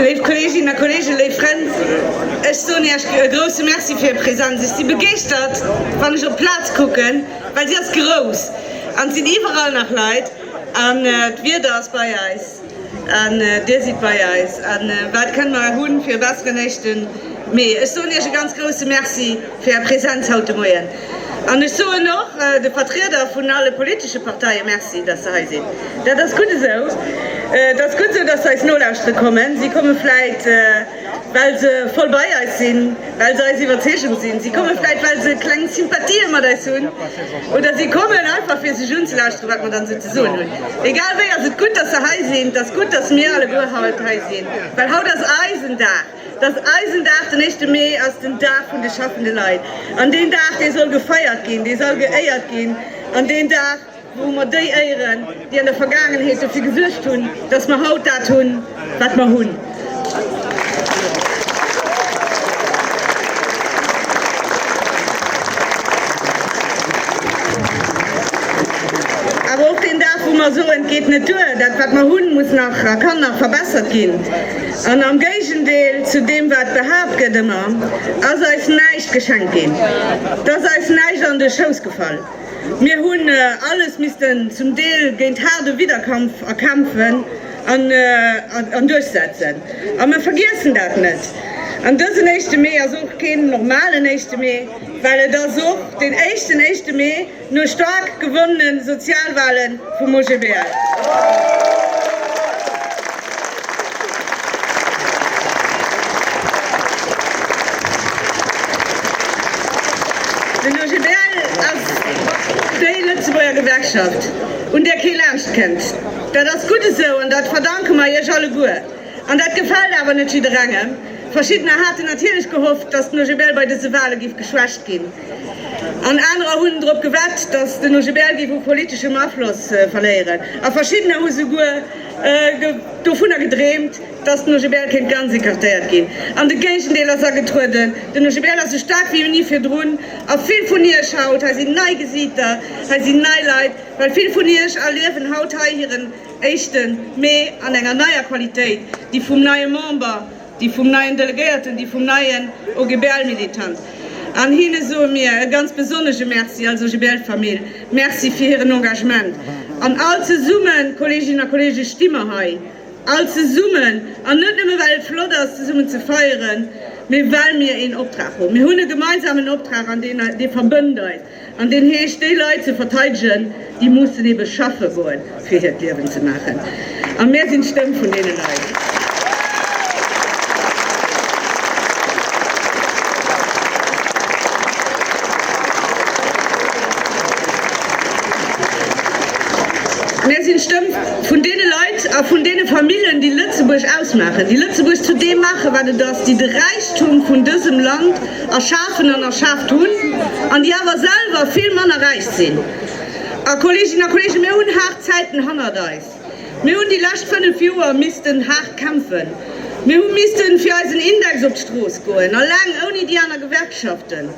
Léif Kolleeginnen a Kolleegen, léif Frënn, ech soen Iech e grouse Merci fir Är Präsenz. Ech si begeeschtert, wann ech op d'Plaz kucken, well si ass grouss an et sinn iwwerall nach Leit an d'Wieder ass bei eis. An dir sidd bei eis. A wat kënne mer hu fir e besseren éischten Mee? Ech soen iech e ganz grousse Merci fir är Präsenz haut de Moien. An ech soen och de Vertrieder vun alle politesche Parteie Merci, datt se hei sinn. Dat ass gutt esou. Et ass gutt esou, datt se eis nolauschtere kommen. Si komme vläicht. Well se voll bei eis sinn, well se eis Iwwerzeegung sinn. Si komme vläicht, well se kleng Sympathien mat eis hunn. Oder si kommen einfach, fir sech unzelauschteren, wat mer dann esou ze soen hunn. Egal wéi ass et gutt, dass se hei sinn. Et ass gutt, dass mir alleguer haut hei sinn, well haut ass eisen Dag. Et ass eisen Dag. Den éischte Mee ass den Dag vun de schaffende Leit. An deen Dag, dee soll gefeiert ginn, dee sall geéiert ginn. An deen Dag. Do hu mer déi Éieren, déi an der Vergaangenheet dofir gesuergt hunn, dass mer haut dat hunn, wat mer hunn. Awer och deen Dag, wou mer soen, Et geet net duer, dat, wat mer hunn, muss nach a kann nach verbessert ginn. An am Géigendeel zu deem, wat behaapt gëtt, ëmmer, ass eis näischt geschenkt ginn, et ass eis näischt an de Schouss gefall. Mir hunn alles missten zum Deel géint haarde Widderkampf erkämpfen an duerchsetzen. A mir vergiessen dat net. An dësen éischte Mee ass och keen normalen éischte Mee, well et ass och deen éischten éischte Mee no staark gewonnene Sozialwale vum OGBL. Den OGBL ass déi Lëtzebuerger Gewerkschaft, un där kee laanscht kënnt. Dat ass gutt esou an dat verdanke mer Iech alleguer. An dat gefält awer net jidderengem. Verschiddener haten natierlech gehofft, datt den OGBL bei dëse Wale géif geschwächt ginn. An anerer hunn drop gewett, datt den OGBL géif u politeschem Afloss verléieren. A verschiddener hu souguer Dovunner gedreemt, dass den OGBL kéint ganz écartéiert ginn. An de Géigendeel ass agetrueden. Den OGBL ass sou staark wéi ni virdrun. A vill vun iech haut hei sinn nei Gesiiter, hei sinn nei Leit, well vill vun iech erliewen haut hei hiren éischte Mee an enger neier Qualitéit, déi vum neie Member, déi vum neien Delegéierten, déi vum neien OGBL-Militant, an hinne soe mir e ganz besonnesche Merci als OGBL-Famill, Merci fir hiren Engagement. An all zesummen, Kolleeginnen a Kolleegen, sti mer hei all zesummen, an net nëmme well et flott ass zesummen ze feieren, mee well mir een Optrag hunn. Mir hunn e gemeinsamen Optrag, an dee verbënnt eis. An deen heescht, déi Leit ze verteidegen, déi mussen ebe schaffe goen, fir hiert Liewen ze maachen. A mär sinn d'Stëmm vun deene Leit. Mär sinn d'Stëmm vun deene Leit a vun deene Famillen, déi Lëtzebuerg ausmaachen, déi Lëtzebuerg zu deem maachen, wat et ass, déi de Räichtum vun dësem Land erschafen an erschaaft hunn, an déi awer selwer vill manner räich sinn. A, Kolleeginnen a Kolleegen, mir hunn haart Zäiten hannert eis. Mir hunn déi lescht fënnef Joer missten haart kämpfen. Mir hu misste fir eisen Index op d'Strooss goen, eleng, ouni déi aner Gewerkschaften.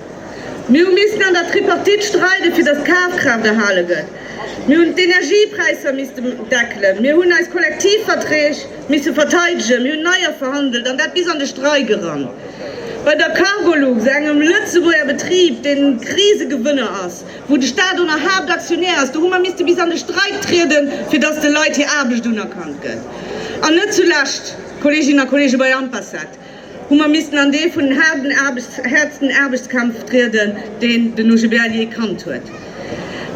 Mir hu missten an der Tripartite streiden, fir datt d'Kafkraaft erhale gëtt. Mir hunn d'Energiepräisser misste deckelen. Mir hunn eis Kollektivverträg. misse verteidegen. Mir hunn neier verhandelt an dat bis an de Streik eran. Bei der Cargolux, engem Lëtzebuerger Betrib, deen e Krisegewënner ass, wou de Staat och nach Haaptaktionär ass, do hu mer misste bis an de Streik trieden, fir datt de Leit hir Aarbecht unerkannt gëtt. An net zulescht, Kolleeginnen a Kolleegen, bei Ampassat, hu mer missten an dee vun haarden Aarbechts-, häertsten Aarbechtskampf trieden, deen den OGBL jee kannt huet.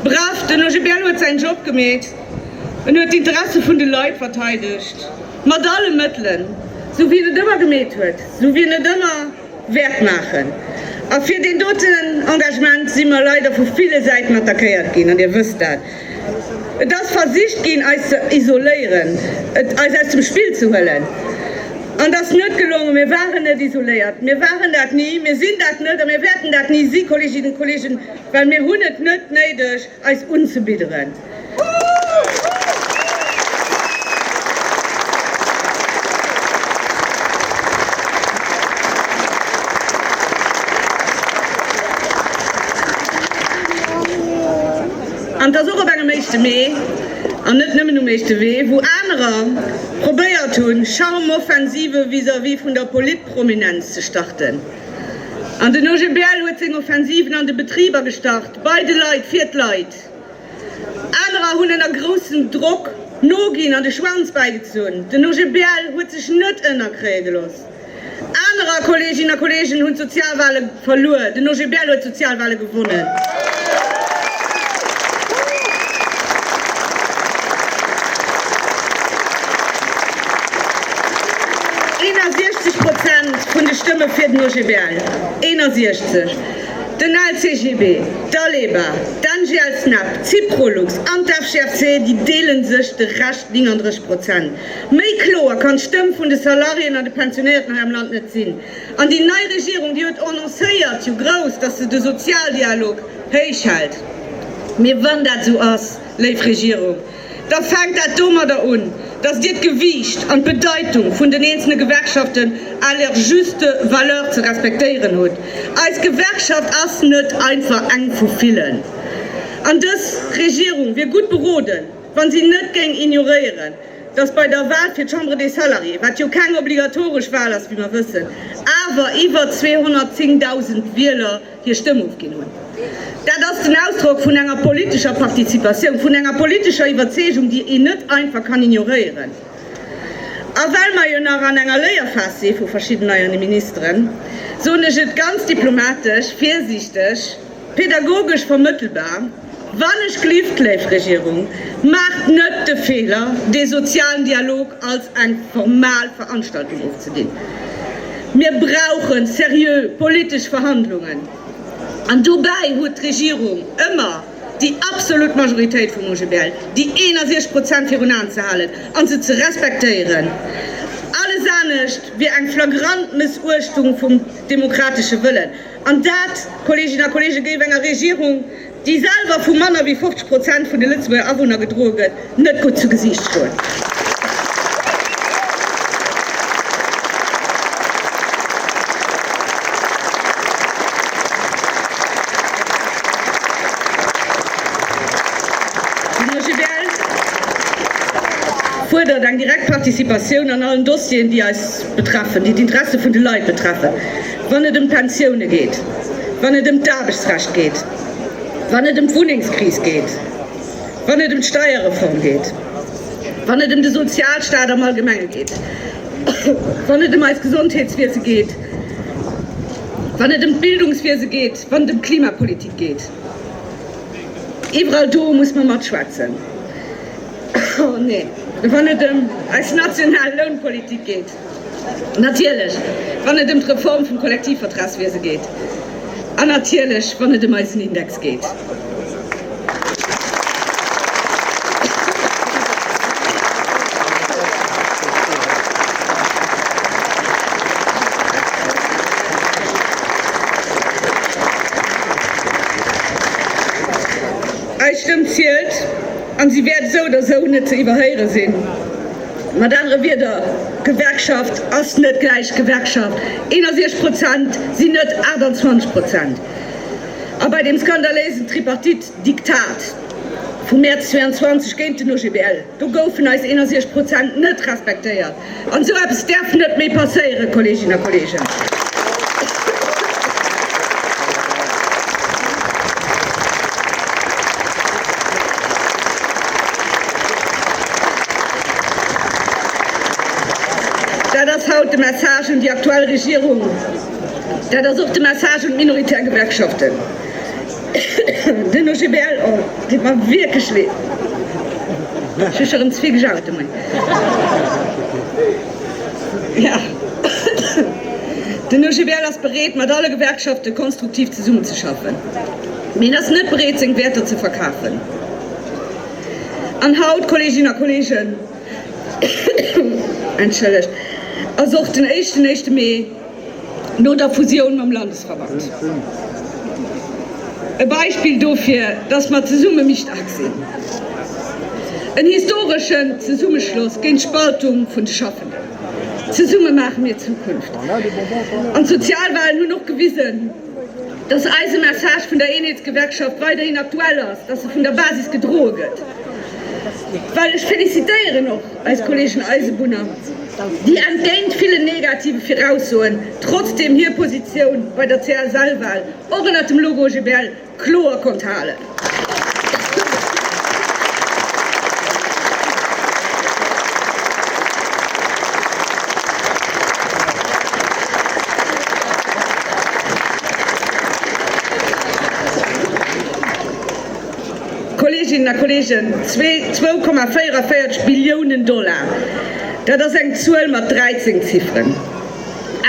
Bref, den OGBL huet säin Job gemeet, en huet d'Interesse vun de Leit verteidegt, mat alle Mëttelen, sou wéi en et ëmmer gemeet huet, sou wéi en et ëmmer wäert maachen. A fir deen doten Engagement si mer leider vu ville Säiten attackéiert ginn, an Dir wësst dat. Et ass versicht ginn, eis ze isoléieren, eis aus dem Spill ze huelen. An dass net gelongen. Mir waren net isoléiert, mir waren dat ni, mir sinn dat net a mir wäerten dat ni si, Kolleeginnen a Kolleegen, well mir hunn et net néideg, eis unzebidderen. An dass och op engem Éischte Mee, an net nëmmen um Éischte Mee, wou anerer probéiert hunn, Charmoffensive vis-à-vis vun der Politprominenz ze starten, an den OGBL huet seng Offensiven an de Betriber gestart, bei de Leit, fir d'Leit. Anerer hunn ënner groussem Drock noginn an de Schwanz bäigezunn. Den OGBL huet sech net ënnerkréie gelooss. Anerer Kolleeginnen a Kolleegen hunn d'Sozialwahle verluer. Den OGBL huet d'Sozialwahle gewonnen. Eenersiechzeg Prozent vun de Stëmme fir den OGBL, eenersiechzeg. Den LCGB, d'ALEBA, d'NGL-SNEP, d'Syprolux an d'FGFC, déi deele sech de Rescht, 39 Prozent. Méi kloer kann d'Stëmm vun de Salariéen an de Pensionéierten hei am Land net sinn. An déi nei Regierung, déi huet annoncéiert jo grouss, dass se de Sozialdialog héich hält. Mee wann dat esou ass, léif Regierung, da fänkt dat domadder un, dass Dir d'Gewiicht an d'Bedeitung vun den eenzele Gewerkschaften à leur juste valeur ze respektéieren hutt. Eis Gewerkschaft ass net einfach eng vu villen. An dës Regierung wier gutt beroden, wa si net géing ignoréieren, datt bei der Wal fir d'Chambre des Salariés, wat jo keng obligatoresch Wal ass, wéi mer wëssen, awer iwwer 210.000 Wieler hir Stëmm ofginn hunn. Dat ass den Ausdrock vun enger politescher Participatioun, vun enger politescher Iwwerzeegung, déi een net einfach kann ignoréieren. A well mer jo nach an enger Léierphas si vu verschidden neien Ministeren, soen ech et ganz diplomatesch, virsiichteg, Pedagogesch vermëttelbar, Wann ech glift, léif Regierung, maacht net de Feeler, dee sozialen Dialog als eng formal Veranstaltung ofzedinn. Mir brauche seriö politesch Verhandlungen, an dobäi huet d'Regierung ëmmer déi absolut Majoritéit vum OGBL, déi 61 Prozent, virun Aen ze halen an se ze respektéieren. Alles anescht wier eng flagrant Mëssuechtung vum demokratesche Wëllen. An dat, Kolleeginnen a Kolleegen, géif enger Regierung, déi selwer vu manner wéi 50 Prozent vun de Lëtzebuerger Awunner gedroe gëtt, net gutt zu Gesiicht stoen. D'Mosche Berg fuerdert eng direkt Participatioun an allen Dossieren, déi eis betreffen, déi d'Interesse vun de Leit betreffen. wann et ëm d'Pensioune geet, wann et ëm d'Aarbechtsrecht geet, wann et ëm d'Wunnengskris geet, wann et ëm d'Steierreform geet, wann et ëm de Sozialstaat am Allgemenge geet, wann et ëm eist Gesondheetswiese geet, wann et ëm d'Bildungswiese geet, wann et ëm d'Klimapolitik geet. Iwwerall do muss mer matschwätzen. Wann et ëm eis national Lounpolitik geet, Natierlech, wann et ëm d'Reform vum Kollektivvertragswiese geet. An natierlech, wann et ëm eisen Index geet. Eis Stëmm zielt, a si wäert esou oder esou net ze iwwerhéiere sinn. Mat anere Wierder, Gewerkschaft ass net gläich Gewerkschaft. 61 Prozent sinn net 28 Prozent. A bei deem skandaléisen Tripartite-Diktat vum Mäerz 22 géint den OGBL, do goufen eis 61 Prozent net respektéiert. An esou eppes däerf net méi passéieren, Kolleeginnen a Kolleegen! Dat ass haut de Message un déi aktuell Regierung, dat ass och de Message un d'minoritär Gewerkschaften. Den OGBL deet mer wierklech leed. Ech hu scho rëm ze vill gejaut de Moien. Den OGBL ass bereet, mat alle Gewerkschafte konstruktiv zesummenzeschaffen, mee en ass net bereet, seng Wäerter ze verkafen. An haut, Kolleeginnen a Kolleegen, ass och den éischten éischte Mee, no der Fusioun mam Landesverband. E Beispill dofir, dass mer zesumme méi staark sinn. En historeschen Zesummeschloss géint d'Spaltung vun de Schaffenden. Zesumme maache mir Zukunft. An d'Sozialwalen hunn och gewisen, Dass eise Message vun der Eenheetsgewerkschaft weiderhin aktuell ass, dass e vun der Basis gedroe gëtt, well ech félicitéieren och eis Kolleegen Eisebunner, déi entgéint villen negative Viraussoen trotzdem hir Positioun bei der CSL-Wahl och ënnert dem Logo GBL kloer konnt halen. Kolleeginnen a Kolleegen, zwee, 2,44 Billiounen Dollar, dat ass eng Zuel mat 13 Zifferen.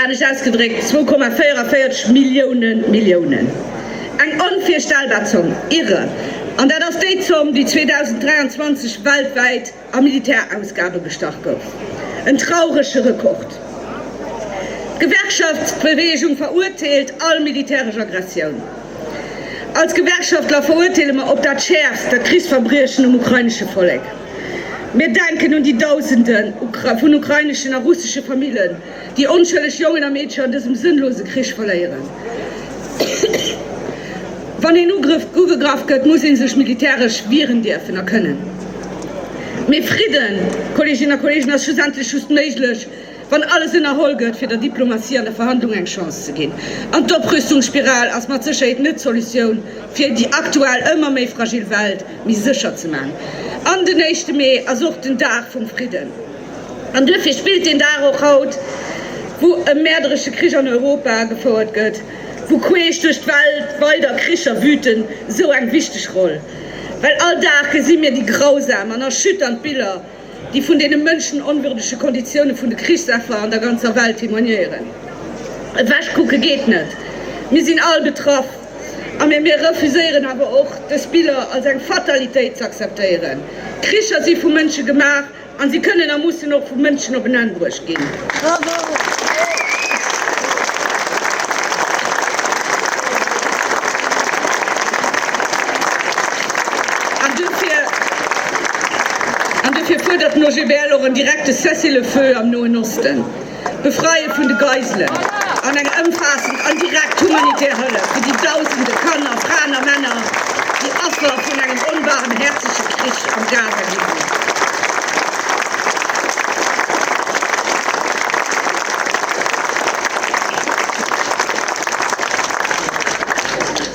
Anescht ausgedréckt, 2,44 Millioune Milliounen. Eng onvirstellbar Zomm, irre! An dat ass déi Zomm, déi 2023 weltwäit a Militärausgabe gestach gouf. En traurege Rekord. D'Gewerkschaftsbeweegung verurteelt all militäresch Aggressioun. Als Gewerkschaftler verurteele mer op dat Schäerfst dat Krichsverbriechen um ukrainesche Vollek. Mir denken un déi Dausenden vun ukraineschen a russesche Famillen, déi onschëlleg Jongen a Meedcher an dësem sënnlose Krich verléieren. Wann een ugegraff gëtt, muss ee sech militäresch wieren dierfen a kënnen. Mee Fridden, Kolleeginnen a Kolleegen, ass schlussendlech just méiglech, wann alles ënnerholl gëtt, fir der Diplomatie an der Verhandlung eng Chance ze ginn. An d'Oprüstungsspiral ass mat Sécherheet net d'Solutioun, fir déi aktuell ëmmer méi fragil Welt méi sécher ze maachen. An den éischte Mee ass och den Dag vum Fridden. An duerfir spillt deen Dag och haut, wou e mäerderesche Krich an Europa gefouert gëtt, wou queesch duerch d'Welt weider Kricher wüten, esou eng wichteg Roll. Well all Dag gesi mir déi grausam an erschütternd Biller, déi vun deene mënschenonwürdege Konditioune vun de Krichsaffer an der ganzer Welt témoignéieren. Ewechkucke geet net, mir sinn all betraff, a mir mir refuséieren awer och, dës Biller als eng Fatalitéit z'akzeptéieren. Kricher si vu Mënsche gemaach, a si kënnen a mussen och vu Mënschen op en Enn bruecht ginn. ginn. An duerfir fuerdert den OGBL och en direkte Cessez-le-feu am Noen Osten, d'Befreie vun de Geiselen an eng ëmfaassend an direkt humanitär Hëllef fir déi Dausende Kanner, Fraen a Männer, déi Affer vun engem onbarmhäerzege Krich am Gaza gi sinn.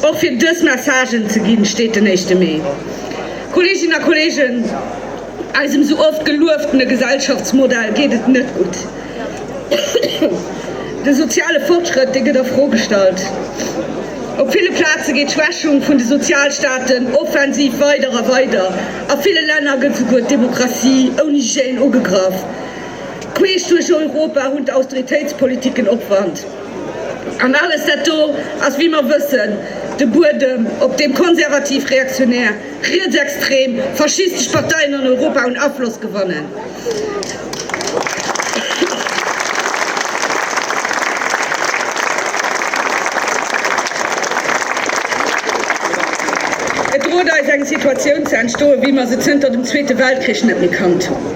Och fir dës Messagen ze ginn, steet den éischte Mee. Kolleeginnen a Kolleegen, eisem esou oft gelueftene Gesellschaftsmodell geet et net gutt. De soziale Fortschrëtt, dee gëtt a Fro gestallt. Op ville Plaze geet d'Schwächung vun de Sozialstaaten offensiv weider a weider. A ville Länner gëtt souguer d'Demokratie ouni Hygiène ugegraff. Queesch duerch Europa hunn d'Austeritéitspoliticken Opwand. An alles dat do ass, wéi mer wëssen, de Buedem, op deem konservativ-reaktionär, rietsextrem, faschistesch Parteien an Europa un Afloss gewannen. Et droht eis eng Situatioun ze entstoen, wéi mer se zënter dem Zweete Weltkrich net méi kannt hunn.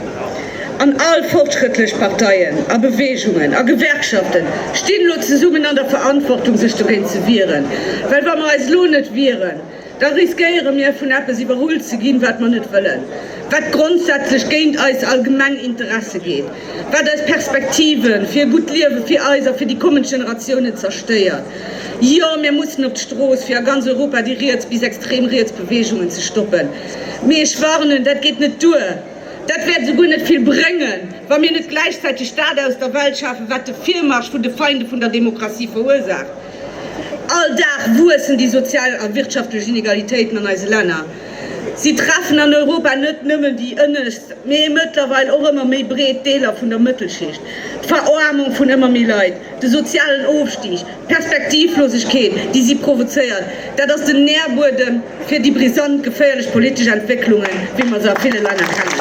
An all fortschrëttlech Parteien a Beweegungen a Gewerkschafte stinn elo zesummen an der Verantwortung, sech dogéint ze wieren, well wa mer eis elo net wieren, da riskéiere mir vun eppes iwwerholl ze ginn, wat mer net wëllen, wat grondsätzlech géint eis allgemeng Interesse geet, wat eis Perspektive fir e gutt Liewe fir eis a fir déi kommend Generatiounen zerstéiert. Jo, mir mussen op d'Strooss, fir a ganz Europa déi riets bis extrem riets Beweegungen ze stoppen. Mee ech warnen, dat geet net duer. Dat wäert esouguer net vill bréngen, wa mir net gläichzäiteg dat aus der Welt schafen, wat de Virmarsch vun de Feinde vun der Demokratie verursaacht. All Dag wuessen déi sozial a wirtschaftlech Inegalitéiten an eise Länner. Si treffen an Europa net nëmmen déi ënnescht, mee mëttlerweil och ëmmer méi breet Deeler vun der Mëttelschicht. D'Veroarmung vun ëmmer méi Leit, de sozialen Ofstig, d'Perspektivlosegkeet, déi si provozéiert, Dat ass den Nährbuedem fir déi brisant, geféierlech politesch Entwécklungen, wéi mer se a ville Länner kennen.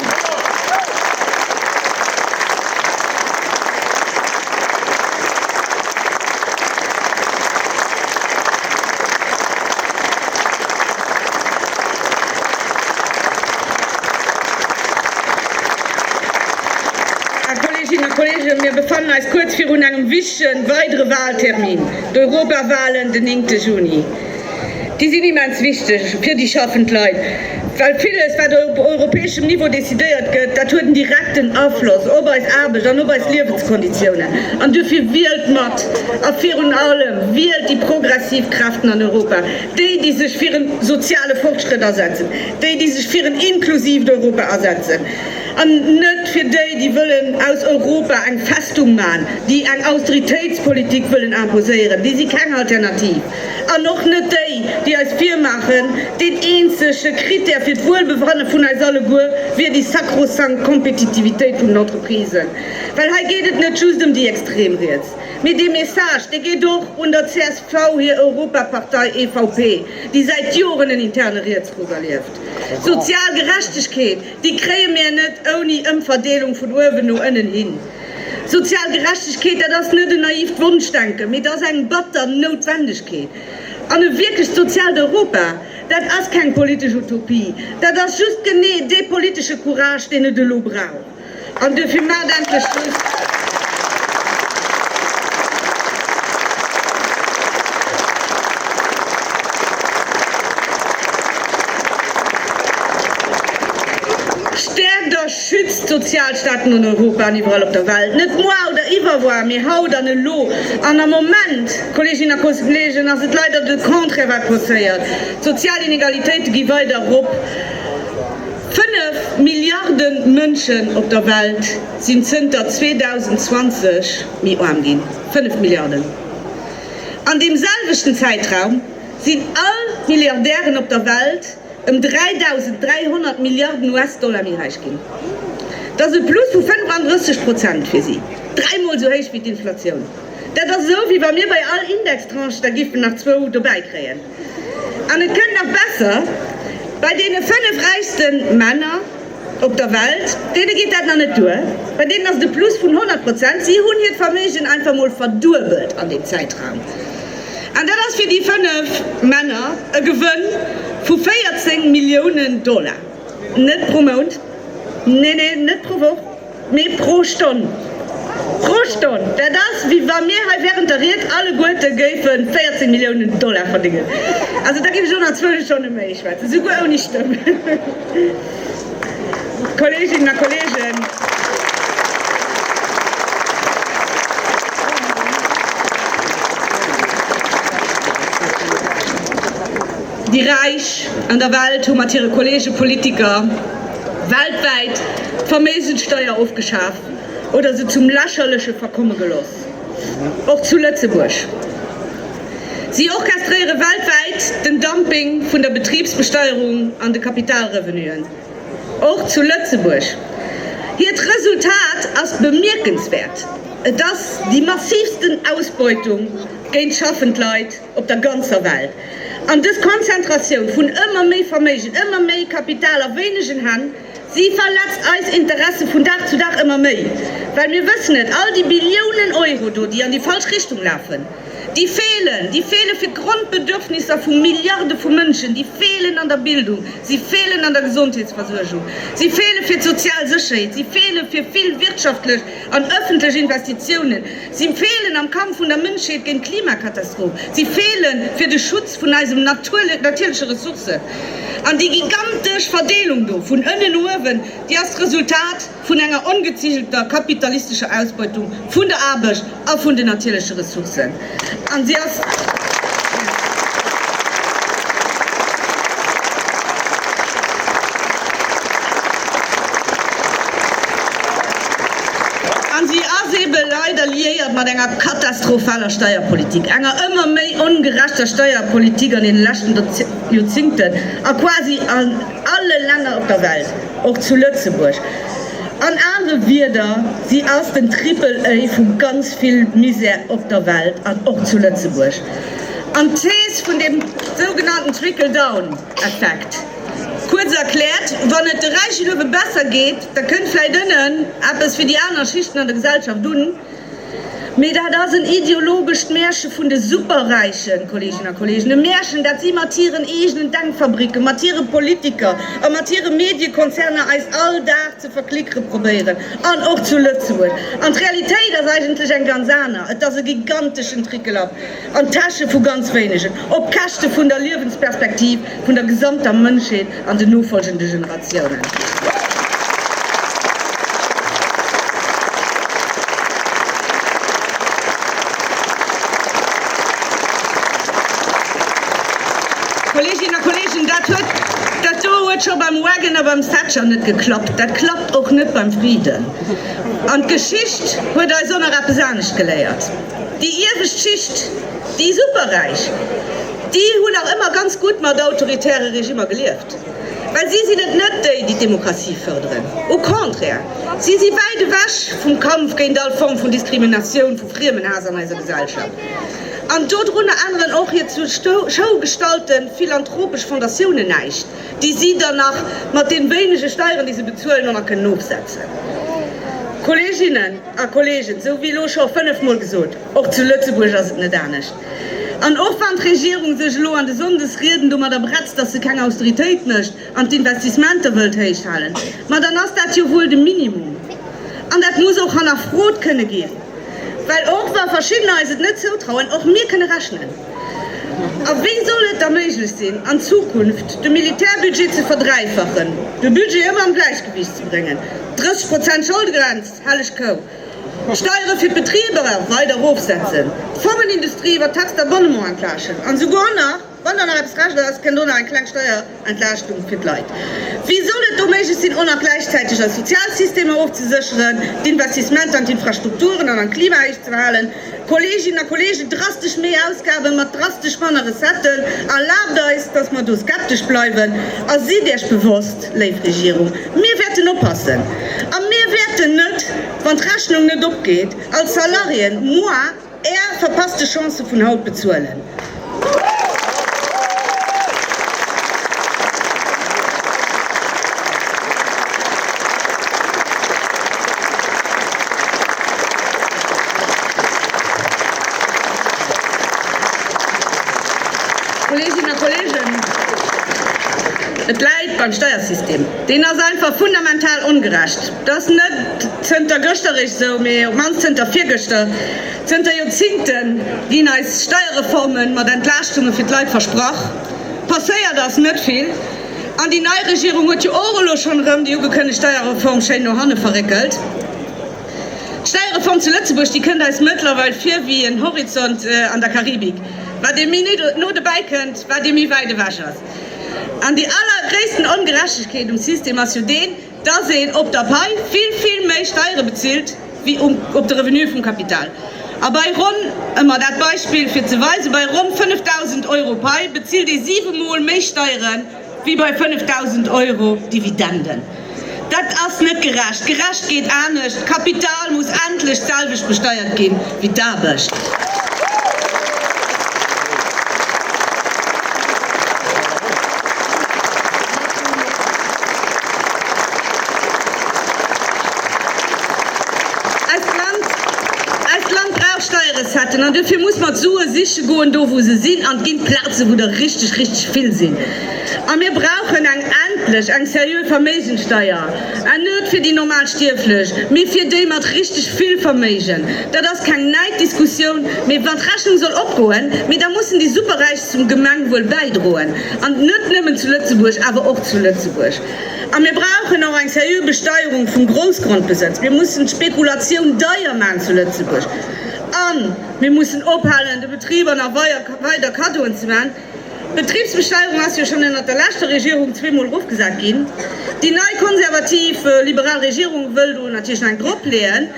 Här Kolleginnen a Kollegen, mir befannen eis kuerz virun engem wichtigen weidere Wahltermin. D'Europawahlen den néngte Juni, déi sinn immens wichteg fir déi schaffend Leit, well villes, wat op europäeschem Niveau decidéiert gëtt, dat huet en direkten Afloss op eis Aarbecht an op eis Liewenskonditiounen. An duerfir, wielt mat! A virun allem, wielt déi progressiv Kräften an Europa, déi, déi sech fir e soziale Fortschrëtt asetzen, déi, déi sech fir en inklusiivt Europa asetzen. An net fir déi, déi wëllen aus Europa eng Festung maachen, déi eng Austeritéitspolitik wëllen imposéieren, déi si keng Alternativ. An och net déi, déi eis virmaachen, deen eenzege Krittär fir d'Wuelbefanne vun eis alleguer wier déi sakrosankt Kompetitivitéit vun den Entreprisen. Well hei geet et net just ëm déi extrem Riets, mee dee Message, dee geet och un der csv hir Europapartei EVP, déi säit Joren en interne Rietsruck erlieft. Sozial Gerechtegkeet! Déi kréie mir net ouni Ëmverdeelung vun uewen no ënnen hin. Sozial Gerechtegkeet, dat ass net en naiivt Wonschdenken, mee et ass eng batter Noutwendegkeet. An e wierklecht soziaalt Europa, dat ass keng politesch Utopie, dat ass just genee dee politesche Courage, deen et elo brauch. An duerfir maacht endlech soss stäerkt a schützt d'Sozialstaaten an Europa an iwwerall op der Welt, net moar oder iwwerwoar, mee haut an elo. An am Moment, Kolleeginnen a Kollegen, ass et leider de Contraire wat passéiert, D'sozial Inegalitéite gi weider erop. Fënnef Milliarde Mënschen op der Welt sinn zënter 2020 méi aarm ginn. Fënnef Milliarden! An deem selwechten Zäitraum sinn all d'Milliardären op der Welt ëm 3.300 Milliarden US-Dollar méi räich ginn. Dat ass e Plus vu 35 Prozent fir si, dräi Mol esou héich wéi d'Inflatioun. Dat ass esou, wéi wa mir bei all Indextranche der giffen nach zwou dobäi kréien. An et kënnt nach besser, Bei deene 5 räichste Männer op der Welt, deene geet dat nach net duer. Bei deenen ass et e Plus vun 100 Prozent. Si hunn hiert Verméigen einfach mol verduebelt an deem Zäitraum. An dat ass fir déi 5 Männer e Gewënn vu 14 Milliounen Dollar. Net pro Mount, nee, nee, net pro Woch. Mee pro Stonn, pro Stonn! Dat ass, wéi wa mir hei während der Ried alleguerte géife 14 Milliounen Dollar verdéngen. Also, da géif ech och nach zwou Stonne méi schwätzen, souguer ouni Stëmm. Kolleeginnen a Kolleegen, déi Räich an der Welt hu mat hire Kolleege Politiker, Weltwäit d'Verméigenssteuer ofgeschaaft oder se zum Lächerleche verkomme geloss. Och zu Lëtzebuerg. Si orchestréiere weltwäit den Dumping vun der Betribsbesteuerung an de Kapitalrevenuen. Och zu Lëtzebuerg. Hiert Resultat ass bemierkenswäert, et ass déi massivsten Ausbeutung géint schaffend Leit, op der ganzer Welt. An dës Konzentratioun vun ëmmer méi Verméigen, ëmmer méi Kapital a wéinegen Hänn, si verletzt eis Interesse vun Dag zu Dag ëmmer méi. Well mir wëssen et, all déi Billiounen Euro do, déi an déi falsch Richtung lafen, déi feelen, déi feele fir d'Grondbedürfnisser vu Milliarde vu Mënschen, déi feelen an der Bildung, si feelen an der Gesondheetsversuergung, si feele fir d'sozial Sécherheet, si feele fir vill wirtschaftlech, An ëffentlech Investitiounen, si feelen am Kampf vun der Mënschheet géint d'Klimakatastroph, si feelen fir de Schutz vun eisen natierleche Ressourcen. An déi gigantesch Verdeelung do vun ënnen no uewen, déi ass d'Resultat vun enger ongezigelter kapitalistescher Ausbeutung vun der Aarbecht a vun den natierleche Ressourcen. An si ass eebe leider liéiert mat enger katastrophaler Steierpolitik, enger ëmmer méi ongerechter Steierpolitik an deene leschten Joerzingten a quasi an alle Länner op der Welt, och zu Lëtzebuerg. An anere Wierder, si ass den Triple-A vu ganz vill Muséeë op der Welt an och zu Lëtzebuerg. An d'Thees vun deem sougenannten Trickle-down-Effekt, kuerz erkläert, Wann et de Räichen ebe besser geet, da kënnt vläicht ënnen eppes fir déi aner Schichten an der Gesellschaft un. Mee dat ass en ideologescht Märche vun de Superräichen, Kolleeginnen a Kolleegen, e Märchen, dat si mat hiren eegenen Denkfabricken, mat hire Politiker a mat hire Mediekonzerner eis all Dag ze verklickere probéieren, an och zu Lëtzebuerg. An d'Realitéit ass eigentlech eng ganz aner, Et ass e giganteschen Trickelaff. an d'Täsche vu ganz wéinegen, op Käschte vun der Liewensperspektiv vun der gesamter Mënschheet an den nofolgende Generatiounen. Kolleeginnen a Kolleegen, dat huet, dat do huet scho beim Wagon a beim Thatcher net geklappt, dat klappt och net beim Friden. An d'Geschicht huet eis och nach eppes anescht geléiert. déi iewescht Schicht, déi Superräich, déi hunn nach ëmmer ganz gutt mat autoritäre Regimmer gelieft, well si sinn et net déi, déi d'Demokratie fërderen. Au contraire, si si wäit ewech vum Kampf géint all Form vun Diskriminatioun, vu Friemenhaass an eiser Gesellschaft. An dodrunner änneren och hir zur Show gestalte philanthropesch Fondatiounen näischt, déi si dann nach mat deene wéinege Steieren, déi se bezuelen, och nach kënnen ofsetzen. Kolleeginnen. A Kolleegen, sou wéi elo scho fënnef Mol gesot, och zu Lëtzebuerg ass et net anescht. An och wann d'Regierung sech elo an de Sonndesrieden domadder bretzt, datt se keng Austeritéit mécht an d'Investissementer wëllt héich halen, ma dann ass dat jo wuel de Minimum. An dat muss och hannerfrot kënne ginn, well och wa verschiddener eis et net zoutrauen, och mir kënne rechnen. A wéi soll et da méiglech sinn, an Zukunft de Militärbudget ze verdräifachen, de Budget ëmmer am Gläichgewicht ze bréngen, 30 Prozent Scholdegrenz, Helleg Kou! Steiere fir d'Betriber weider erofsetzen, d'Pharmaindustrie iwwer d'Taxe d'abonnement entlaaschten an esouguer nach, wann dann nach eppes recht ass, kënnt och nach eng kleng Steierentlaaschtung fir d'Leit. Wéi soll et do méiglech sinn, och nach gläichzäiteg eis Sozialsystemer ofzesécheren, d'Investissementer an d'Infrastrukturen an an d'Klima héich ze behalen? Kolleeginnen a Kolleegen, drastesch méi Ausgaben mat drastesch manner Recetten, erlaabt eis, dass mer do skeptesch bleiwen. A sidd Iech bewosst, léif Regierung, mir wäerten oppassen a mir wäerten net, wann d'Rechnung net opgeet, als Salariéen moar Är verpasste Chancë vun haut bezuelen. Kolleginnen a Kollegen, et läit beim Steiersystem. Deen ass einfach fundamental ongerecht. Dat ass net zënter gëschter eréischt esou, mee op d'mannst zënter virgëschter. Zënter Joerzingte ginn eis Steierreforme mat Entlaaschtunge fir d'Leit versprach. Passéiert ass net vill. An déi nei Regierung huet jo och elo schonn erëm déi ugekënnegt Steierreform schéin no hanne verréckelt. D'Steierreform zu Lëtzebuerg, déi kënnt eis mëttlerweil vir wéi en Horizont an der Karibik. Wat ee méi no dobäi kënnt, wat ee méi wäit ewech ass. An déi allergréissten Ongerechtegkeet um System ass jo deen, dass een op der Pai vill, vill méi Steiere bezilt wéi um op de Revenue vum Kapital. A bei ronn, ëmmer dat Beispill fir ze weisen, bei ronn 5.000 Euro Pai bezilt ee siwe Mol méi Steiere wéi bei 5.000 Euro Dividenden. Dat ass net gerecht. Gerecht geet anescht, D'Kapital muss endlech d'selwecht besteiert ginn. wéi d'Aarbecht. Eist Land, eist Land brauch Steierecetten an duerfir muss mer d'Sue siche goen do wou se sinn an ginn, d'Plaze wou der richteg, richteg vill sinn. A mir brauchen eng, endlech eng sérieux Verméigenssteuer. En Nuet fir déi normal Stierflech, mee fir déi mat richteg vill Verméigen, dat ass keng näit Diskussioun, mee wann d'Rechnung soll opgoen, mee da mussen déi Superräich zum Gemengwuel bäidroen, an net nëmmen zu Lëtzebuerg, awer och zu Lëtzebuerg. A mir brauchen och eng seriö Besteierung vum Groussgrondbesëtz. Mir mussen d'Spekulatioun deier maachen zu Lëtzebuerg, a mir mussen ophalen de Betriber nach weider Kaddoen ze maachen. D'Betribsbesteierung ass jo schonn ënnert der leschter Regierung zweemol erofgesat ginn. Déi nei konservativ liberal Regierung wëll do natierlech nach eng drop leeën.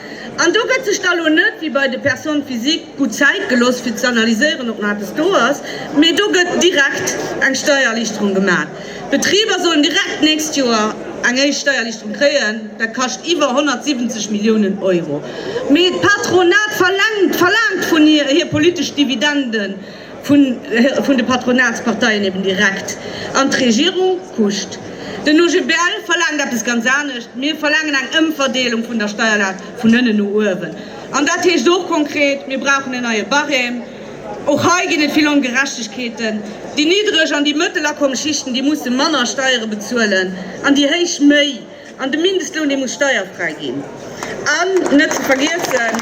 An do gëtt sech da lo net wéi bei de Personnes physiques gutt Zäit gelooss fir ze analyséieren, ob nach eppes do ass, mee do gëtt direkt eng Steiererlichterung gemaach. D'Betriber sollen direkt d'nächst Joer eng éischt Steiererlichterung kréien. Dat kascht iwwer 170 Milliounen Euro. Mee d'Patronat verlaangt vun hir hir politesch Dividenden. vun de Patronatsparteien eben direkt an d'Regierung kuscht. Den OGBL verlaangt eppes ganz anescht, Mir verlaangen eng Ëmverdeelung vun der Steierlast vun ënnen no uewen. An dat heescht och konkret, Mir brauchen en neie Barème. Och hei ginn et vill Ongerechtegkeeten. Déi niddreg an déi mëttelakommesschichten, déi musse manner Steiere bezuelen an déi héich méi. An de Mindestloun, dee muss steierfräi ginn. An net ze vergiessen,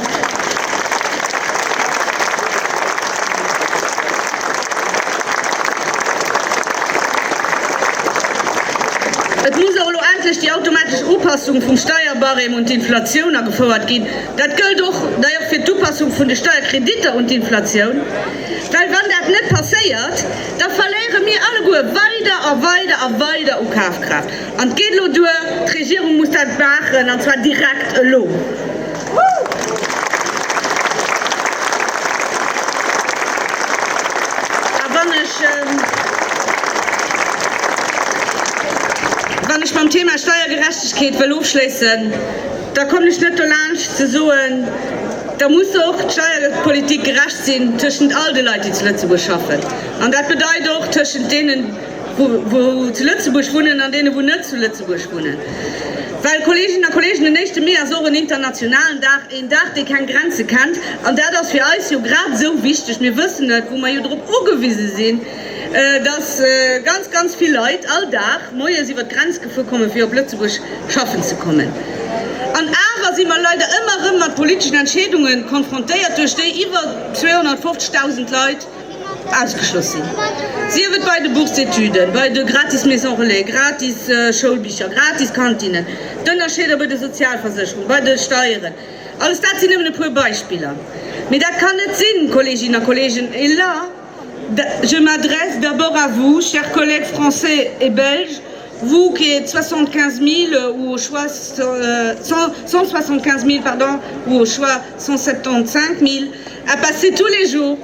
et muss och elo endlech déi automatesch Upassung vum Steierbarème un d'Inflatioun agefouert ginn. Dat gëllt och d'ailleurs fir d'Upassung vun de Steierkreditter un d'Inflatioun. Well wann dat net passéiert, da verléiere mir alleguer weider a weider a weider u Kafkraaft. An et geet elo duer, d'Regierung muss dat maachen, an zwar direkt elo. A wann ech mam Thema Steiergerechtegkeet wëll ofschléissen, da kommen ech net dolaanscht ze soen, da muss och d'Steierpolitik gerecht sinn tëschent all de Leit, déi zu Lëtzebuerg schaffen. An dat bedeit och tëschent deenen, wou zu Lëtzebuerg wunnen an deene wou net zu Lëtzebuerg wunnen, well, Kolleeginnen a Kolleegen, den éischte Mee ass och en internationalen Dag, een Dag dee keng Grenze kennt, an dat ass fir eis jo grad esou wichteg. Mir wëssen et, wou mer jo drop ugewise sinn, datt ganz, ganz vill Leit all Dag moies iwwert d'Grenz gefuer kommen, fir op Lëtzebuerg schaffen ze kommen. An awer si mer leider ëmmer erëm mat politeschen Entscheedunge konfrontéiert, duerch déi iwwer 250.000 Leit, Ausgeschloss sinn, sief et bei de Bourse-d'études, bei de gratis Maison Relais, gratis Schoulbicher, gratis Kantinnen, d'Ënnerscheeder bei de Sozialversécherungen, bei de Steieren, alles dat sinn nëmmen e puer Beispiller. Mee dat kann net sinn, Kolleeginnen a Kolleegen! Et là, je m'adresse d'abord à vous, chers collègues français et belges, vous qui êtes 75 000 ou au choix 175 000, pardon, ou au choix 175 000 à passer tous les jours,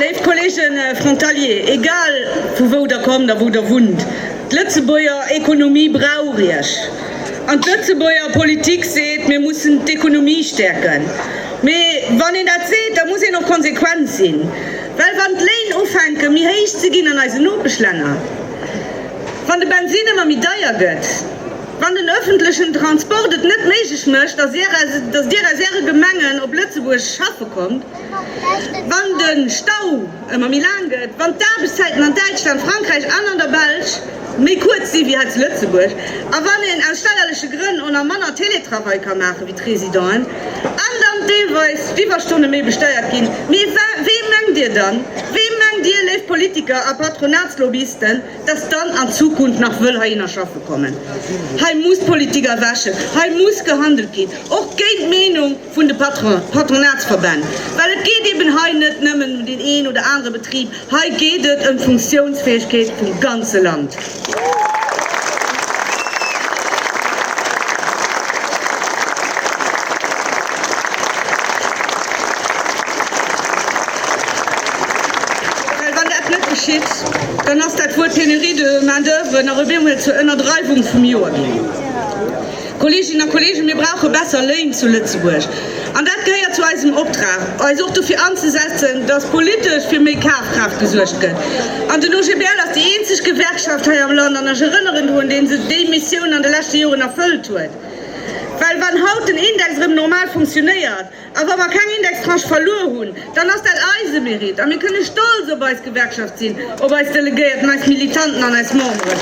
Léif Kolleege Frontalier, egal vu wou Der kommt a wou Der wunnt, d'Lëtzebuerger Ekonomie brauch Iech. An d'Lëtzebuerger Politik seet, mir mussen d'Ekonomie stäerken. Mee wann een dat seet, da muss een och konsequent sinn. Well wann d'Léin ufänke méi héich ze ginn an eisen Nopeschlänner, wann de Bensin ëmmer méi deier gëtt, Wann den öffentlechen Transport et net méiglech mécht, dass Dir aus Äre Gemengen op Lëtzebuerg schaffe kommt, wann de Stau ëmmer méi laang gëtt, wann d'Aarbechtszäiten an Däitschland, Frankräich an an der Belsch méi kuerz sinn, wéi hei zu Lëtzebuerg, a wann een aus steierleche Grënn o na manner Télétravail ka maachen, wéi d'Résidenten, an dann deelweis d'Iwwerstonne méi besteiert ginn, mee wee mengt Dir dann? Wee mengt Dir, léif Politiker a Patronatslobbyisten? dass dann an Zukunft nach wëll heihinner schaffe kommen. Hei muss d'Politik erwächen, hei muss gehandelt ginn, och géint d'Meenung vun de Patronatsverbänn, well et geet eben hei net nëmmen ëm deen een oder anere Betrib, hei geet et ëm d'Funktionsfäegkeet vum ganze Land. Dann ass dat Wuert Pénurie de main-d'oeuvre nach ewéi emol zur Ënnerdreiwung vum Joer ginn. Kolleeginnen a Kolleegen, mir brauche besser Léin zu Lëtzebuerg. An dat gehéiert zu eisem Optrag, eis och dofir anzesetzen, dass politesch fir méi Kafkraaft gesuergt gëtt. An den OGBL ass déi eenzeg Gewerkschaft hei am Land, an ech erënneren drun, déi sech déi Missioun an de leschte Joren erfëllt huet. Well wann haut den Index erëm normal funktionéiert, A wa mer keng Indextranche verluer hunn, dann ass dat eise Mérite a mir kënne stolz op eis Gewerkschaft sinn, op eis Delegéierten, eis Militanten an eis Memberen.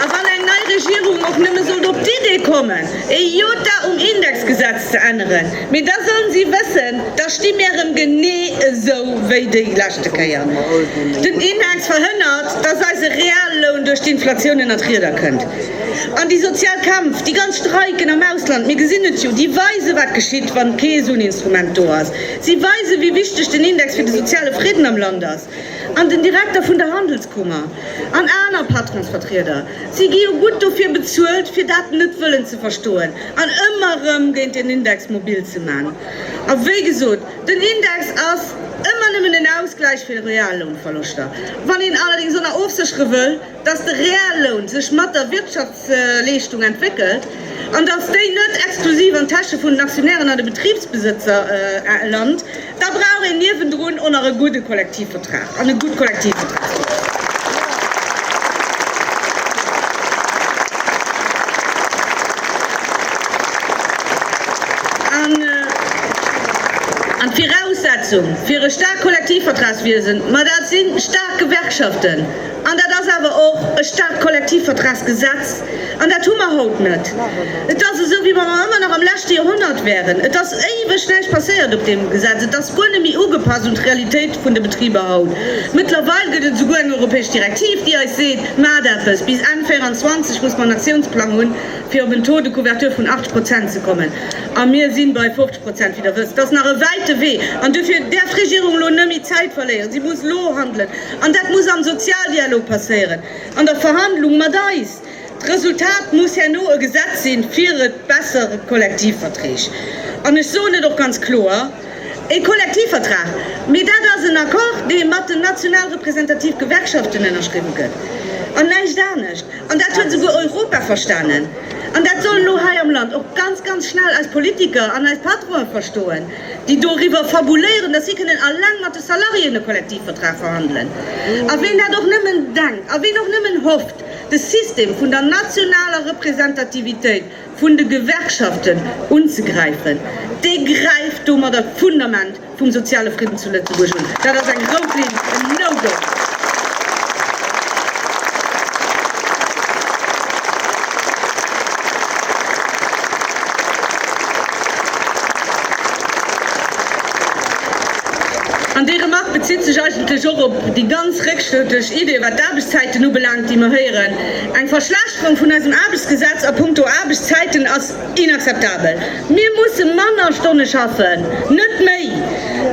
A wann eng nei Regierung och nëmme sollt op d'Idee kommen, ee Jota um Indexgesetz ze änneren, Mee da sollen si wëssen, da sti mir erëm genee esou wéi déi leschte Kéier. Den Index verhënnert, datt eise Realloun duerch d'Inflatioun ënnert d'Rieder kënnt. An déi sozial Kämpf, déi ganz Streiken am Ausland, mir gesinn et jo, déi weise wat geschitt, wann kee esou en Instrument do ass. Si weisen, wéi wichteg den Index fir de soziale Fridden am Land ass. an den Direkter vun der Handelskummer an aner Patronsvertrieder, si gi jo gutt dofir bezuelt, fir dat net wëllen ze verstoen an ëmmer erëm géint den Index mobil ze man. A wéi gesot, den Index ass ëmmer nëmmen en Ausgläich fir Reallounverloschter. Wann een allerdéngs ëmmer ofséchere wëll, dass de Realloun sech mat der Wirtschaftsleeschtung entwéckelt an dass déi net exklusiv an d'Täsche vun den Aktionären a de Betribsbesëtzer lant, da brauch een niewendrun o nach e gudde Kollektivvertrag an e gutt Kollektivvertragsgesetz. An d'Viraussetzung fir e staarkt Kollektivvertragswiesen, ma dat si staark Gewerkschaften, An dat ass awer och e Stat-Kollektivvertragsgesetz, an dat hu mer haut net. Et ass esou, wéi wa mer ëmmer nach am leschte Joerhonnert wäeren. Et ass éiweg näischt passéiert op deem Gesetz. Et ass guer net méi ugepasst un d'Realitéit vun de Betriber haut. Mëttlerweil gëtt et esouguer eng europäesch Direktiv, déi eis seet, Maacht eppes! Bis Enn 2024 muss mer en Aktiounsplang hunn, fir op en Taux de couverture vun 80 Prozent ze kommen. A mir si bei 50 Prozent, wéi Der wësst. Dat ass nach e wäite Wee. An duerfir däerf d'Regierung elo net méi Zäit verléieren. Si muss elo handelen. An dat muss am Sozialdialog passéieren, an der Verhandlung mat eis. D'Resultat muss herno e Gesetz sinn, fir et besser Kollektivverträg. An ech soen et och ganz kloer, E Kollektivvertrag, mee dat ass en Accord, dee mat den national representativ Gewerkschaften ënnerschriwwen gëtt, an näischt anescht. An dat huet esouguer Europa verstanen. An dat sollen elo hei am Land och ganz, ganz schnell eis Politiker an eis Patronen verstoen. déi doriwwer fabuléieren, datt si kënnen alleng mat de Salariéen e Kollektivvertrag verhandelen. A ween dat och nëmmen denkt, a ween och nëmmen hofft, de System vun der nationaler Representativitéit vun de Gewerkschaften unzegräifen, dee gräift domadder d'Fundament vum soziale Fridden zu Lëtzebuerg un. Dat ass eng rout Linn, en No-Go! An déi Remark bezitt sech eigentlech och op déi ganz réckschrëttlech Idee, wat d'Aarbechtszäiten ubelaangt, déi mer héieren. Eng Verschlechterung vun eisem Aarbechtsgesetz a punkto Aarbechtszäiten ass. Inakzeptabel! Mir musse manner Stonne schaffen, net méi!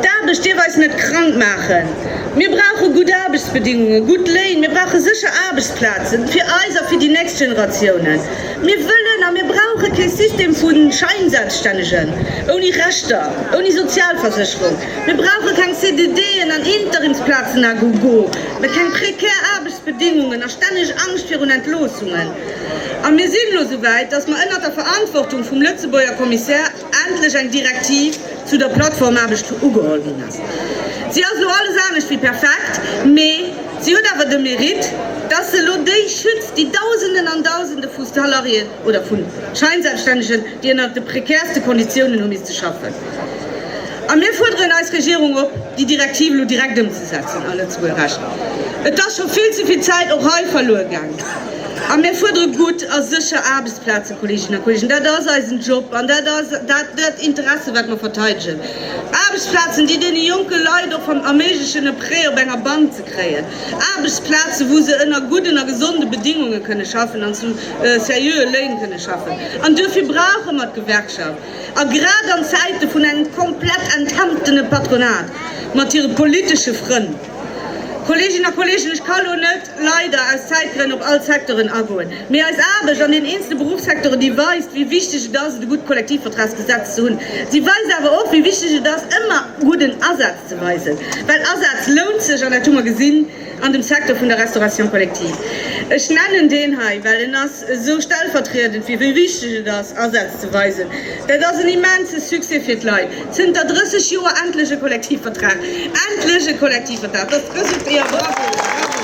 D'Aarbecht dierf eis net krank maachen. Mir brauche gutt Aarbechtsbedingungen, gutt Léin, mir brauche sécher Aarbechtsplazen, fir eis a fir déi nächst Generatiounen. Mir wëllen a mir brauche kee System vu Schäinselbststännegen, ouni Rechter, ouni Sozialversécherung. Mir brauche keng CDDen an Interimsplazen à gogo, mä keng prekär Aarbechtsbedingungen a stänneg Angscht virun Entloossungen. A mir sinn elo souwäit, dass mer ënnert der Verantwortung vum Lëtzebuerger Kommissär endlech eng Direktiv zu der Plattformaarbecht ugeholl ginn ass. Si ass elo alles anescht wéi perfekt, mee si huet awer de Mérite, dass se elo déi schützt, déi Dausenden an Dausende vu Salariéen oder vu Scheinselbststännegen, déi ënnert de prekärste Konditiounen hu misste schaffen. A mir fuerderen eis Regierung op, déi Direktiv elo direkt ëmzesetzen a Lëtzebuerger Recht. Et ass scho vill ze vill Zäit och hei verluer gaangen. A mir fuerdere gutt a sécher Aarbechtsplazen, Kolleeginnen a Kolleegen. Dat ass eisen Job an dat ass dat Interesse wat mer verteidegen. Aarbechtsplazen, déi deene jonke Leit och erméiglechen e Prêt op enger Bank ze kréien. Aarbechtsplazen, wou se ënner gudden a gesonde Bedéngunge kënne schaffen an zu seriöe Léin kënne schaffen. An duerfir brauche mer d'Gewerkschaft. A grad an Zäite vun engem komplett enthemtene Patronat mat hire politesche Frënn. Kolleeginnen a Kolleegen, ech ka elo net, leider, aus Zäitgrënn op all d'Secteuren agoen. Mee eis Aarbecht an den eenzelne Berufssecteuren, déi weist, wéi wichteg et ass, et e gutt Kollektivvertragsgesetz ze hunn. Si weist awer och, wéi wichteg et ass, ëmmer gudden Asaz ze weisen. Well Asaz lount sech, an dat hu mer gesinn an dem Secteur vun der Restauration collective. Ech nennen deen hei, well en ass. esou stellvertriedend wier, wéi wichteg et ass, Asätz ze weisen. Dat ass en immense Succès fir d'Leit. Zënter 30 Joer endlech e Kollektivvertrag! Endlech e Kollektivvertrag! Dat ass d'Resultat. Jo, bravo, bravo!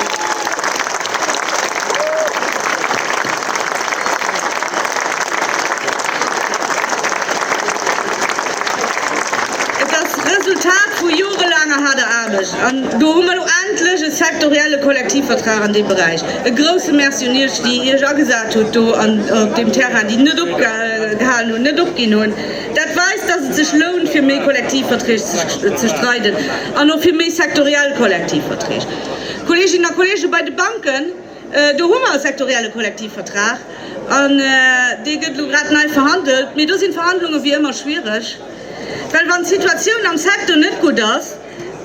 Et ass d'Resultat vu jorelaanger haarder Aarbecht. An do hu mer elo endlech e sektorielle Kollektivvertrag an deem Beräich. E grousse Merci un Iech, déi Iech agesat hutt do op deem Terrain, déi net opgehalen hunn, net opginn hunn. Dat weist, dass et sech lount, fir méi Kollektivverträg ze streiden an och fir méi sektoriell Kollektivverträg. Kolleeginnen a Kolleegen, bei de Banken, do hu mer e sektorielle Kollektivvertrag an dee gëtt elo grad nei verhandelt. Mee do sinn d'Verhandlunge wéi ëmmer schwiereg, well wann d'Situatioun am Secteur net gutt ass,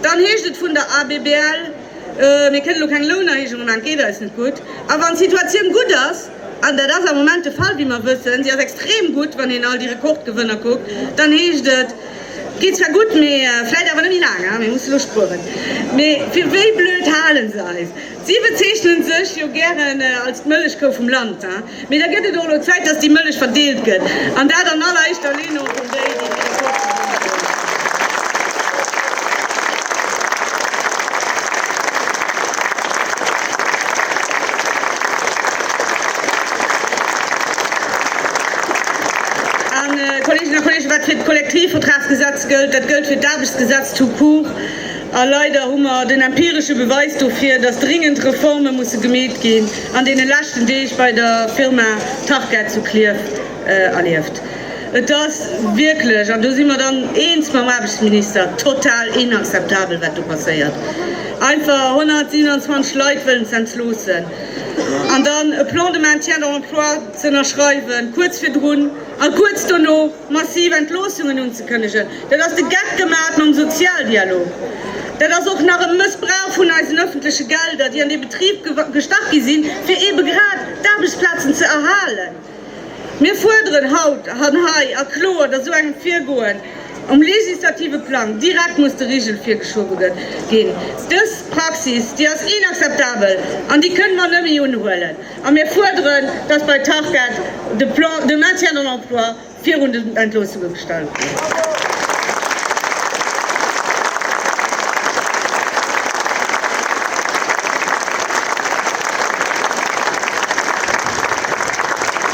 dann heescht et vun der ABBL, Mir kënnen elo keng Lounerhéijunge maachen, et geet eis net gutt. A wann d'Situatioun gutt ass, an dat ass am Moment de Fall, wéi mer wëssen, si ass extrem gutt, wann een all déi Rekordgewënner kuckt, dann heescht et, et geet zwar gutt, mee vläit awer net méi laang, mir mussen elo spueren. Mee fir wéi blöd hale se eis? Si bezeechnen sech jo gären als d'Mëllechkou vum Land. Mee da gëtt et och elo Zäit, dass déi Mëllech verdeelt gëtt, an dat an alleréischter Linn och un déi, déi méi schuel verdéngen. An, Kolleeginnen a Kolleegen, wat fir d'Kollektivvertragsgesetz gëllt, dat gëllt fir d'Aarbechtsgesetz tout court. A leider hu mer den empiresche Beweis dofir, dass dringend Reforme musse gemeet ginn, an deene leschten Deeg bei der Firma Tarkett zu Klierf erlieft. Et ass wierklech, an do si mer dann eens mam Aarbechtsminister, total inakzeptabel, wat do passéiert. Einfach 127 Leit wëllen z'entloossen an dann e Plan de maintien de l'emploi z'ënnerschreiwen, kuerz virdrun a kuerz dono, massiv Entloossungen unzekënnegen, dat ass de Geck gemaach mam Sozialdialog, dat ass och nach e Mëssbrauch vun eisen öffentleche Gelder, déi an dee Betrib gestach gi sinn, fir eebe grad d'Aarbechtsplazen ze erhalen. Mir fuerderen haut an hei a kloer, datt esou engem Virgoen um legislative Plang direkt muss de Rigel virgeschobe ginn. Dës Praxis, déi ass inakzeptabel an déi kënnen mer net méi unhuelen. A mir fuerderen, dass bei Tarkett de Plan de maintien de l'emploi virun den Entloossunge gestallt gëtt.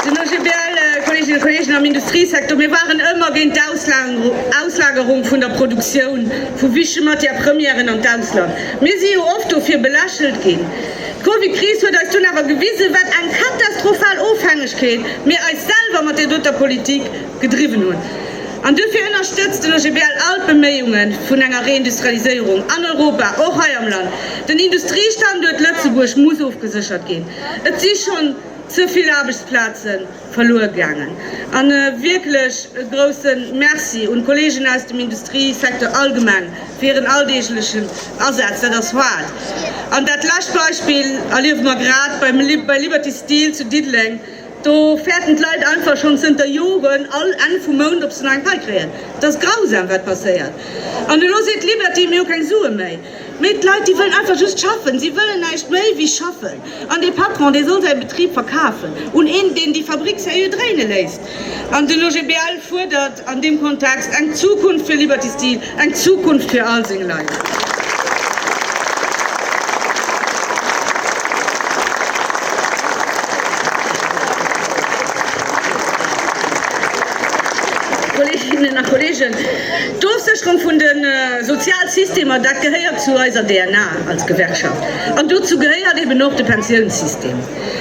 Den OGBL, Kolleeginnen a Kolleegen, am Industriesektor, mir waren ëmmer géint d'Auslagerung vun der Produktioun vu wichtege Matières-premièren an d'Ausland. Mir si jo oft dofir belächelt ginn. D'Covidkris huet eis dunn awer gewisen, wat eng katastrophal Ofhängegkeet mir eis selwer mat där doter Politik gedriwwen hunn. An duerfir ënnerstëtzt den OGBL all d'Beméiunge vun enger Reindustrialiséierung an Europa, och hei am Land. Den Industriestanduert Lëtzebuerg muss ofgeséchert ginn. Et si schonn ze vill Aarbechtsplazen verluer gaangen. A wierklech e grousse Merci un d'Kollegen aus dem Industriesecteur allgemeng fir hiren alldeeglechen Asaz. Dat ass Fahrt. An dat lescht Beispill erliewe mer grad bei Liberty Steel zu Diddeleng. Do fäerten d'Leit einfach schonn zënter Joren all Enn vum Mount, ob se nach eng Pai kréien. Et ass grausam, wat passéiert. An elo seet Liberty, Mir hu keng Sue méi. Mee d'Leit, déi wëllen einfach just schaffen. Si wëllen näischt méi wéi schaffen. An dee Patron, dee soll säi Betrib verkafen un een, deen déi Fabrick sérieux dréine léisst. An den OGBL fuerdert an deem Kontext eng Zukunft fir Liberty Steel, eng Zukunft fir all seng Leit. D'Ofsécherung vun de Sozialsystemer, dat gehéiert zu eiser DNA als Gewerkschaft. An dozou gehéiert eben och de Pensiounssystem.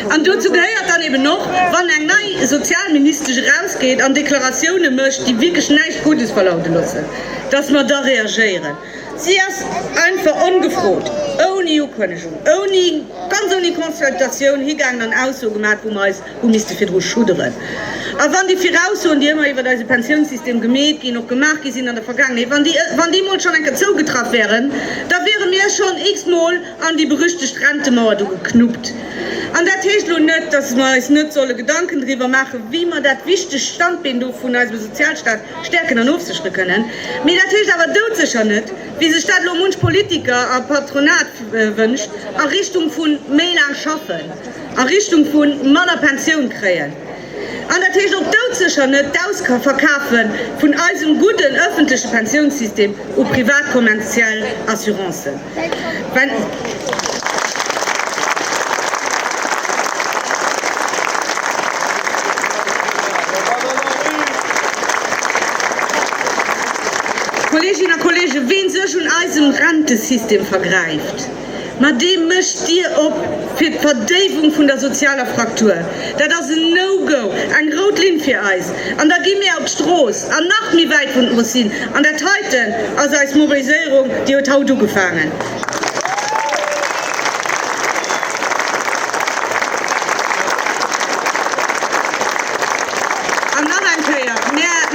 An dozou gehéiert dann eben och, wann eng nei Sozialministesch erausgeet an Deklaratioune mécht, déi wierklech näischt Guddes verlaute loossen, dass mer da reagéieren. Si ass einfach ongefrot, ouni Ukënnegung, ouni, ganz ouni Consultatioun higaangen an Ausso gemaach, wou mer eis hu misste virdru schudderen. A wann déi Viraussoen, déi ëmmer iwwert eise Pensiounssystem gemeet ginn, och gemaach gi sinn an der Vergaangenheet, wann déi, wann déi emol schonn eng Kéier zougetraff wäeren, da wiere mir schonn x-mol an déi berüchtegt Rentemauer do geknuppt. An dat heescht elo net, dass mer eis net solle Gedanken driwwer maachen, wéi mer dat wichtegt Standbeen do vun eisem Sozialstaat stäerken an ofséchere kënnen. Mee dat heescht awer doudsécher net, wéi sech dat elo munch Politiker a Patronat wënscht, a Richtung vu méi laang Schaffen. a Richtung vu manner Pensioun kréien, an dat heescht och doudsécher net d'Ausverkafe vun eisem gudden ëffentleche Pensiounssystem u privat kommerziell Assurancen. Kolleeginnen a Kolleegen, wee sech un eisem Rentesystem vergräift, Mä dee mécht d'Dier op fir d'Verdéiwung vun der sozialer Fraktur. Dat ass en No-Go, eng rout Linn fir eis. An da gi mir op d'Strooss, an nach méi wäit vun eis sinn. An dat heiten ass eis Mobiliséierung, déi huet haut ugefaangen. An nach eng Kéier,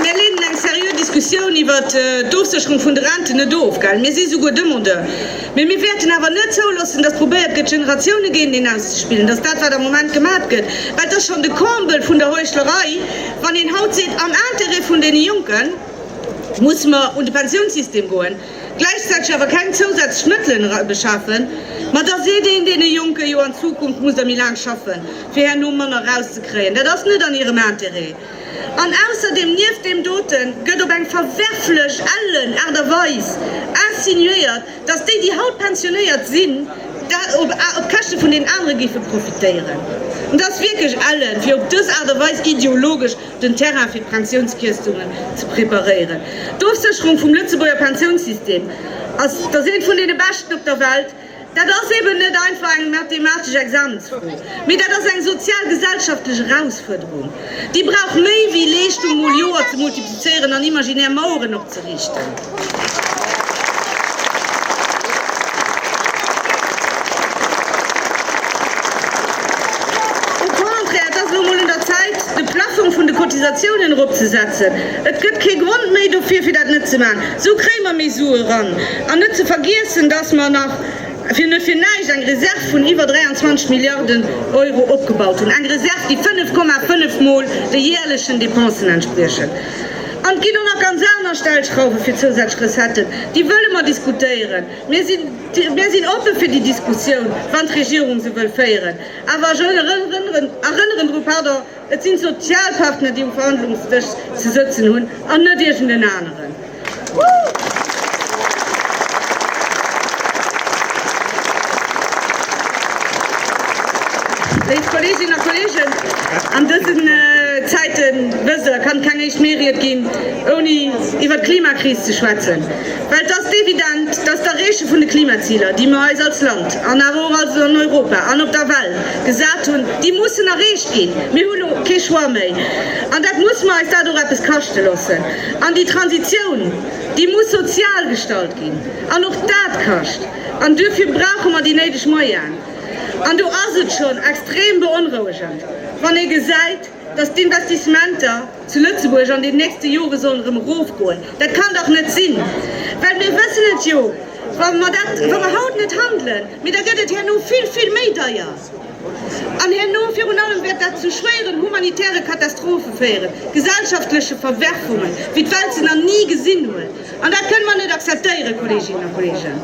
Mir leeden eng seriö Diskussioun iwwert d'Ofsécherung vun de Renten net of. Mir si souguer Demandeur. Mee mir wäerten awer net zouloossen, dass probéiert gëtt, Generatiounen géinteneen auszespillen. Dass dat, wat am Moment gemaacht gëtt, well et ass schonn de Comble vun der Heuchlerei, wann een haut seet, am Intérêt vun deene Jonke musse mer un de Pensiounssystem goen, gläichzäiteg awer keng zousätzlech Mëttelen erbeschafen. Ma da seet een deene Jonke jo, an Zukunft musst der méi laang schaffen, fir herno manner erauszekréien. Dat ass net an hirem Intérêt. An ausserdeem, nieft deem doten, gëtt op eng verwerflech, ellen Aart a Weis insinuéiert, datt déi, déi haut pensionéiert sinn, op Käschte vun deenen anere géife profitéieren. Et ass wierklech ellen, fir op dës Aart a Weis ideologesch den Terrain fir d'Pensiounskierstungen ze preparéieren. D'Ofsécherung vum Lëtzebuerger Pensiounssystem ass, datt eent vun deene beschten op der Welt, Dat ass eben net einfach eng mathematesch Examensfro, mee dat ass eng sozial-gesellschaftlech Erausfuerderung, déi brauch méi wéi Leeschtung mol Joer ze multiplizéieren an imaginär Maueren opzeriichten. Au contraire, et ass elo mol un der Zäit, de Plafong vun de Cotisatiounen eropzesetzen. Et gëtt kee Grond méi dofir, fir dat net ze maachen. Esou kréie mer méi Sue eran. An net ze vergiessen, dass mer nach fir net fir näischt eng Reserv vun iwwer 23 Milliarden Euro opgebaut hunn, eng Reserv, déi 5,5 Mol de jäerlechen Depensen entspriechen. An et ginn och nach ganz aner Stellschrauwe fir zousätzlech Recetten, déi wëlle mer diskutéieren. Mir sinn oppe fir déi Diskussioun, wann d'Regierung se wëll féieren. Awer ech erënneren drun, Et sinn d'Sozialpartner, déi um Verhandlungsdësch ze sëtzen hunn, an net iergend en aneren. Léif Kolleeginnen a Kolleegen, an dësen Zäiten, wësst Der, kann keng éischt Meeried ginn, ouni iwwert d'Klimakris ze schwätzen. Well et ass evident, dass d'Erreeche vun de Klimaziler, déi mer eis als Land an awer och an Europa an op der Welt, gesat hunn, déi mussen erreecht ginn. Mir hu elo kee Choix méi an dat muss mer eis dat och eppes kaschte loossen. An déi Transitioun, déi muss sozial gestalt ginn an och dat kascht an duerfir brauche mer déi néideg Moyaen. An do ass et schonn extrem beonrouegend, wann ee gesäit, Dass d'Investissementer zu Lëtzebuerg an den nächste Jore sollen erëm erofgoen, dat kann dach net sinn! Well mir wëssen et jo, wa mer dat, wa mer haut net handelen, mee da gëtt et herno vill, vill méi deier an herno virun allem wäert dat zu schwéieren humanitäre Katastrophe féieren, gesellschaftleche Verwerfungen, wéi d'Welt se na ni gesinn huet. An dat kënnen mer net akzeptéieren, Kolleeginnen a Kolleegen!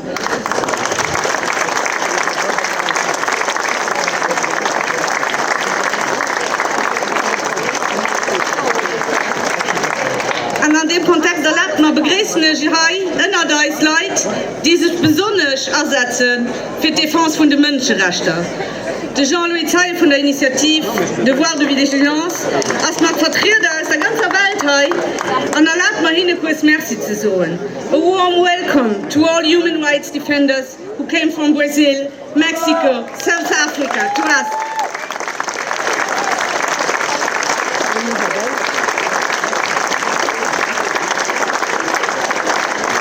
An an deem Kontext erlaabt mer, begréissen ech hei ënnert eis Leit, déi sech besonnesch asetzen fir d'Defense vun de Mënscherechter. De Jean-Louis Zeil vun der Initiativ Devoir de vigilance ass mat Vertrieder aus der ganzer Welt hei an erlaabt mer hinne kuerz Merci ze soen. A warm welcome to all human rights defenders who came from Brazil, Mexico, South Africa to us.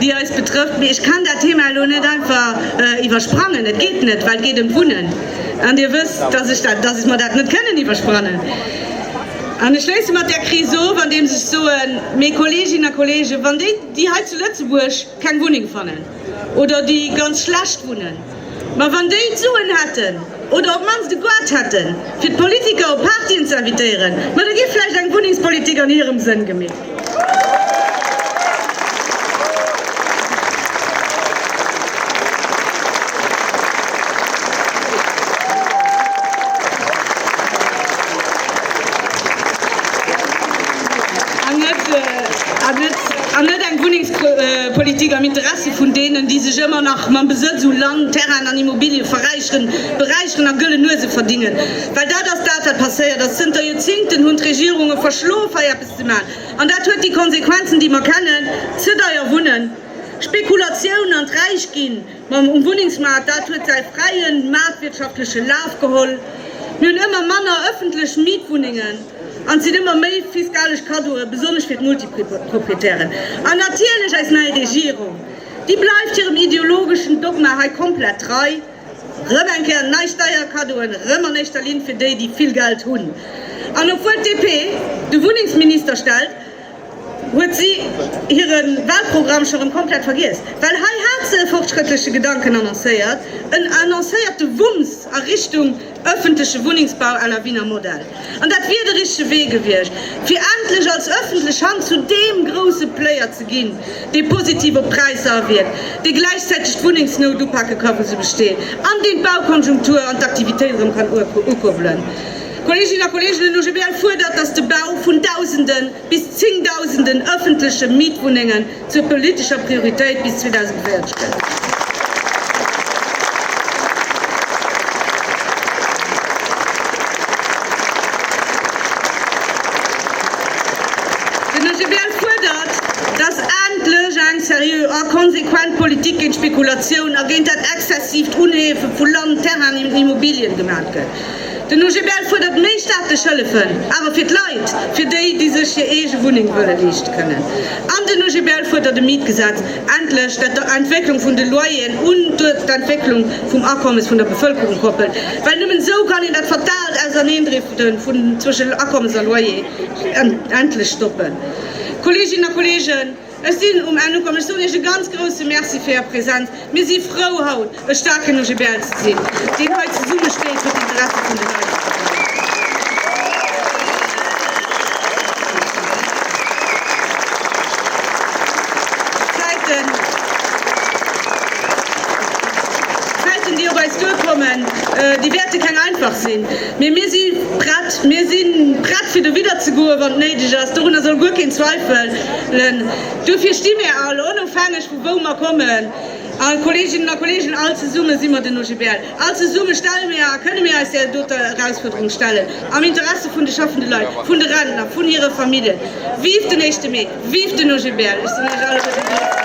déi eis betrëfft, mee ech kann dat Thema elo net einfach iwwersprangen. Et geet net, well et geet ëm d'Wunnen, an Dir wësst, datt ech mer dat net kënnen iwwersprannen. An ech schléisse mat där Kris of, andeems ech soen, Mee Kolleeginnen a Kolleegen, wann déi, déi hei zu Lëtzebuerg keng Wunneng fannen oder déi ganz schlecht wunnen, Mä wann déi d'Suen hätten, oder op d'mannst de Goût hätten, fir d'Politiker op Partyen ze invitéieren, ma da géif vläicht eng Wunnengspolitik an hirem Sënn gemeet. An net eng Wunnengspolitik am Interessi vun deenen, déi sech ëmmer nach mam Besëtz u Land, Terrainen an Immobilië verräicheren, beräicheren a gëlle Nuese verdingen. Well dat ass dat, wat passéiert ass. Zënter Joerzingten hunn d'Regierunge verschlof, hei eppes ze maachen. An dat huet déi Konsequenzen, déi mer kennen, Ze deier wunnen, Spekulatioun an d'Räichginn, Mam um Wunnengsmaart, dat huet säi fräien, maartwirtschaftleche Laf geholl. Mir hunn ëmmer manner ëffentlech Mietwunnengen an et sinn ëmmer méi fiskalesch Kaddoe, besonnesch fir d'Multiproprietären. An natierlech eis nei Regierung, déi bleift hirem ideologeschen Dogma hei komplett trei, rëm eng Kéier nei Steierkaddoen, rëm an éischter Linn fir déi, déi vill Geld hunn. An obwuel d'DP de Wunnengsminister stellt, Huet si hire Wahlprogramm scho rëm komplett vergiess? Well hei hat se e fortschrëttleche Gedanken annoncéiert, en annoncéierte Wumms a Richtung ëffentleche Wunnengsbau à la Wiener Modell. An dat wier de richtege Wee gewiescht, fir endlech als ëffentlech Hand zu deem grousse Player ze ginn, dee positiv op d'Präisser awierkt, dee gläichzäiteg d'Wunnengsnout upake ka, wou se besteet, an deen d'Baukonjunktur an d'Aktivitéit erëm kann ukuerbelen. Kolleeginnen a Kolleegen, den OGBL fuerdert, dass de Bau vun Dausenden bis Zéngdausenden ëffentleche Mietwunnengen zur politescher Prioritéit bis 2040 gëtt. Den OGBL fuerdert, dass endlech eng seriö a konsequent Politik géint d'Spekulatioun a géint dat exzessiivt Unheefe vu Land, Terrainen an Immobilien gemaat gëtt. Den OGBL fuerdert méi staatlech Hëllefen, awer fir d'Leit, fir déi, déi sech hir eege Wunneng wëlle leeschte kënnen. An den OGBL fuerdert e Mietgesetz endlech, dat der Entwécklung vun de Loyeren un d'Entwécklung vum Akommes vun der Bevëlkerung koppelt, well nëmmen esou kann een dat fataalt Auserneendrifte zwëschen Akommes a Loyer endlech stoppen. Kolleeginnen a Kolleegen, Ech sinn um Enn ukomm. Ech soen Iech e ganz grouse Merci fir Är Präsenz. Mir si frou, haut e staarken OGBL ze sinn, deen hei zesumme steet fir d'Interesse vun de Leit anzebréngen. D'Zäiten, déi op eis duerkommen, déi wäerte keng einfach sinn. Mee mir si prett. Mir si prett, fir dowidderzegoen, wann et néideg ass. Dorunner soll guer keen Zweifel. Len. Duerfir sti mir all, onofhängeg vu wou mer kommen, all Kolleeginnen a Kolleegen, all zesumme si mer den OGBL, all zesumme stelle mir a kënne mir eis där doter Erausfuerderung stellen am Interesse vun de schaffende Leit, vun de Rentner, vun hire Familljen. Vive den éischte Mee! Vive den OGBL! Ech sinn Iech alleguerte ganz dankbar.